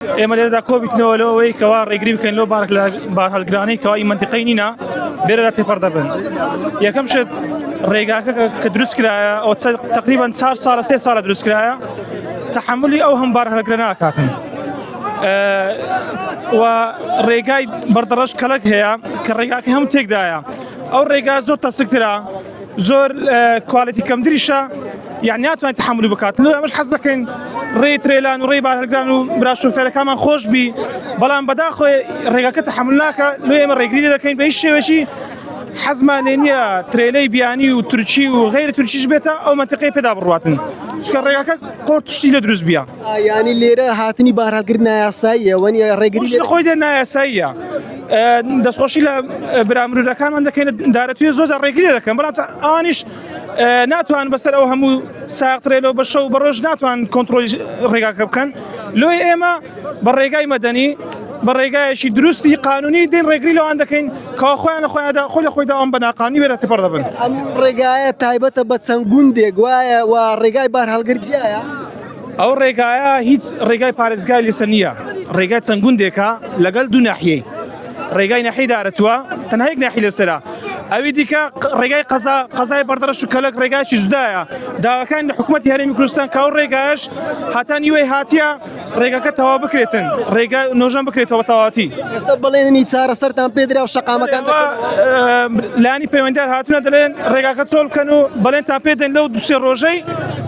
ئێمە لێرەدا کۆبیتنەوە لەوە ئەوەی کەوا ڕێگری بکەین لۆ بارک لە بارهەلگرانی کەوای منتیقی نینە بێرەدا تێپەر دەبن یەکەم شت ڕێگاکە کە دروست کرایە ئەو تقریبان چار ساڵە سێ ساڵە دروست کرایە تحملی ئەو هەم بارهەلگرە ناکاتن و ڕێگای بەردەڕەش کەلک هەیە کە ڕێگاکە هەم تێکدایە ئەو ڕێگا زۆر تەسکترا زۆر کوالیتی کەمتریشە یعنی ناتوانێت تحملی بکات لۆ ئەمەش حەز دەکەین ڕێی ترێلان و ڕێی بارهەلگران و برا شوفێرەکانمان خۆش بی بەڵام بەداخۆی ڕێگەکە تحمل ناکە لۆ ئێمە ڕێگری دەکەین بە هیچ شێوەشی حەزمان لێ نییە ترێلەی بیانی و تورکی و غیر تورکیش بێتە ئەو منتقەی پێدا بڕاتن چکە ڕێگەکە قۆرتشتی لە دروست بیە یانی لێرە هاتنی بارهەڵگر نایاساییە وەنی ڕێگری لە خۆی دە نایاساییە دەستخۆشی لە برامرورەکانمان دەکەین دارەتوێ زۆر ڕێگری دەکەم بەڵام ئەوانیش ناتوان بەسەر ئەو هەموو ساقترێلۆ بە شەو بەڕۆژ ناتوان کۆنتترۆلی ڕێگاکە بکەن لۆی ئێمە بە ڕێگای مەدەنی بە ڕێگایەکی دروستی قانونی دین ڕێگری لەوان دەکەین کا خۆیان لە خۆیاندا خۆ لە خۆیدا ئەم بەناقانی وێرە تپڕ دەبن ئەم ڕێگایە تایبەتە بە چەند گوندێک وایە و ڕێگای بار هەڵگرجیایە ئەو ڕێگایە هیچ ڕێگای پارێزگای لەسەر نییە ڕێگای چەند گوندێکە لەگەل دوو ناحیەی ڕێگای نەحی دارەتوە تەنهایک ناحی لەسرە ئەوی دیکە ڕێگای قەزا قەزای بەردەڕش و کەلک ڕێگایکی زدایە داواکان لە حکوومەت هەرێمی کوردستان کاو ڕێگایش هاتان یوەی هااتە ڕێگەکە تەوا بکرێتن ڕێگا نۆژەن بکرێتەوە تەواتی ئێستا بڵێنی چارە سەران پێدرا و شقامەکان لانی پەیوەندار هاتوونە دەڵێن ڕێگاکە چۆڵکەن و بەڵێن تا پێدەن لەو دوسێ ڕۆژەی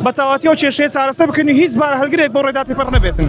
بە تەواتی ئەو کێشەیە چارەسەر بکەن و هیچ بار هەلگرێک بۆ ڕێدا تێپەڕ نەبێتن.